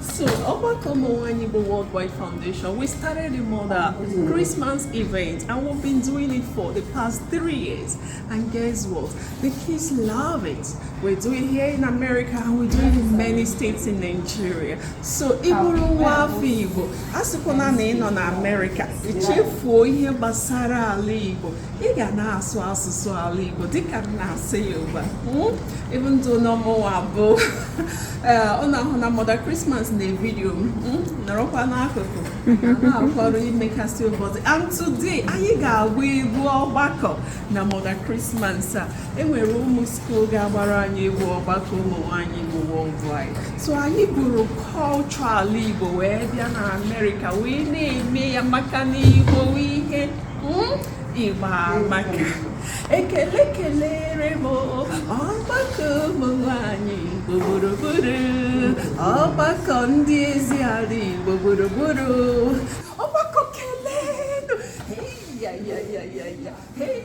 So, Obako Mwani Igbo Worldwide Foundation, we started a mother Christmas event and we've been doing it for the past three years. And guess what? The kids love it. We do it here in America and we do it in many states in Nigeria. So, Iburu Wafi Igbo, asịkwana na ị nọ na Amerịka, ichefuo ihe gbasara ala Igbo, ị ga na-asụ asụsụ ala Igbo dịka m na-asụ ya ugbu a ịbụ hmm? ndụ na ọ mụwa bụ ọ na-ahụ na Mother Christmas na vidiyo m hmm? nọrọkwa n'akụkụ na-akwọrọ imekasị ụbọchị and today anyị ga-agba egwu ọgbakọ na Mother Christmas a e nwere ụmụ skuul ga-agbara anyị egwu ọgbakọ ụmụ nwaanyị Igbo worldwide so anyị buru culture ala Igbo wee bịa na Amerịka wee na-eme ya maka na Igbo ihe Igbo amaka ekele kelere m ọgbakọ ụmụ nwanyị Igbo gburugburu ọgbakọ ndị ezi ala Igbo gburugburu ọgbakọ kelenụ hey ya ya ya ya ya hey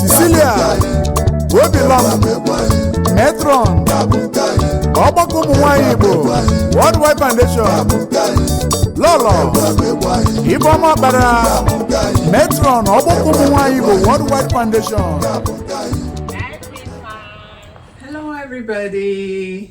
Cecilia Obilom matron ọgbakọ ụmụ nwanyị Igbo worldwide foundation lọlọ Ibeọma Ọkpara matron ọgbakọ ụmụ nwanyị Igbo worldwide foundation Hello, everybody.